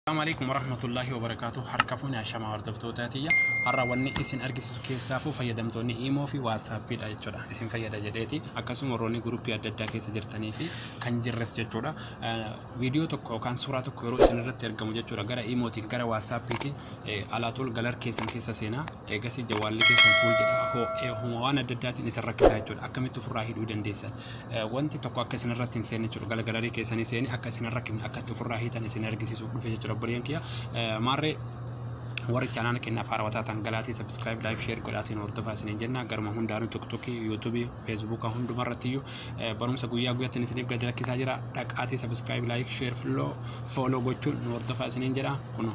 Assalamu alaikum warahmatullahi wabarakatuh harka fuuni ashama hordoftoota tiyya har'a wanni isin argisiisu keessaafuu fayyadamtoonni imoo fi waasaappiidha jechuudha isin fayyada jedheeti akkasuma warroonni guruppii adda addaa keessa jirtanii fi kan jirres jechuudha viidiyoo tokko yookaan suuraa tokko yeroo isin irratti argamu jechuudha gara imootiin gara waasaappiitiin alaatul galar keessan keessa seenaa eegasii jawaalli keessan fuul jedha hoo homa waan adda addaatiin isin rakkisaa jechuudha akkamitti ofirraa hidhuu dandeessan wanti tokko akka isin irratti hin seenne jechuudha. Gala galarii keessanii seeni akka isin hin rakkifne akka itti ofirraa hiitan isin argisiisuuf dhufe jechuudha obboleeyyan kiyya. Maarree warri chaanaala keenyaaf haarawaa taatan galaatii sabiskiraayib laayik sheer godhaatiin hordofaa isiniin jenna garuma hundaanuu tiktokii yuutuubii feesbuuka hunduma irratti iyyuu barumsa guyyaa guyyattiin isiniif gadi lakkisaa jira dhaqaatii sabiskiraayib laayik sheer fooloo gochuun nu hordofaa isiniin jedha kunoo.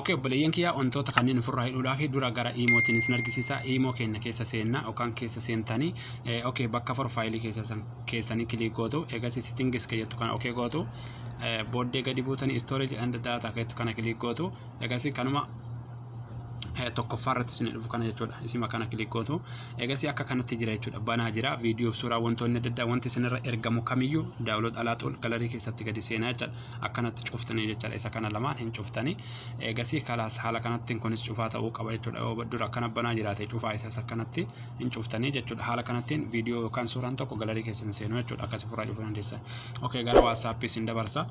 Ok obboleeyyan kiyyaa wantoota kanneen ofirraa hidhuudhaaf dura gara iimootiin isin argisiisa iimoo keenya keessa seenna yookaan keessa seentanii eh, ok bakka forfaayilii keessa san- keessanii kiliik gootu eegas sitingis keeyyattu kana ok gootu eh, booddee gadi buutanii storage and data keeyyattu kana kiliik gootu eegas kanuma eh, tokkoffaa irratti isin dhufu kana jechuudha isima kana kiliik gootu eegas akka kanatti jira jechuudha banaa jira viidiyoof suuraa wantoonni adda addaa wanti isinirra ergamu kamiyyuu daawlood alaaxool galarii keessatti gadi seenaa jechuudha akkanatti cuftanii jechaadha isa kana lamaan hin cuftanii eegasii kalaas haala kanattiin kunis cufaa ta'uu qaba jechuudha yoo dura akkana banaa jiraate cufaa isas akkanatti hin cuftanii jechuudha haala kanattiin viidiyoo yookaan suuraan tokko galarii keessan seenuu jechuudha akkasi furaa cufuu dandeessan okay gara waatsaappii sin dabarsa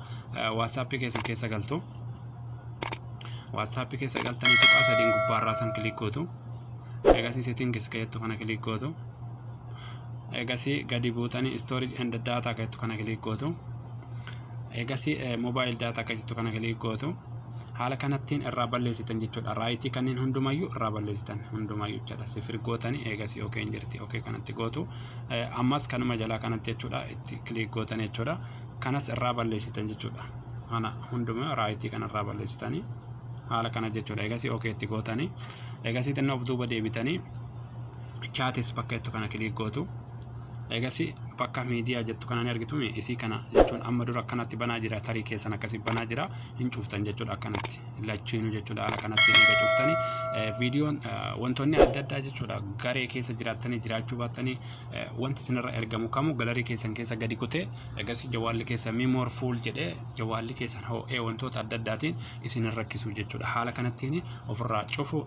waatsaappii keessan keessa galtu waatsaappii keessa galtanii tuqaa sadiin gubbaarraa san kiliik gootu eegasii seetiin keessa jettu kana kiliik gootu eegasii gadi buutanii storage and data akka jettu kana kiliik gootu eegasii mobile data akka jettu kana kiliik gootu haala kanattiin irraa balleessitan jechuudha raayitii kanneen hundumayyuu irraa balleessitan hundumayyuu jechuudha sifir gootanii eegasii okeen jirti okee kanatti gootu ammas kanuma jalaa kanatti jechuudha itti kiliik gootan jechuudha kanas irraa balleessitan jechuudha kana hundumaa raayitii kana irraa balleessitanii haala kana jechuudha eegasii okeetti gootanii eegasii xinnoo of duuba deebitanii chaatis bakka jettu kana kiliik gootu eegasi bakka miidiyaa jettu kana ni argitu isii kana jechuun amma dura akkanatti banaa jira tarii keessan akkasi banaa jira hin cuftan jechuudha akkanatti lachiinu jechuudha haala kanatti eega cuftani viidiyoon wantoonni adda addaa jechuudha garee keessa jiraattanii jiraachuu baattanii wanti isinirra ergamu kamu galarii keessan keessa gadi kutee eegasi jawaalli keessa mimoor fuul jedhee jawaalli keessan hoo'ee wantoota adda addaatiin isinirra rakkisuu jechuudha haala kanattiin ofirraa cufu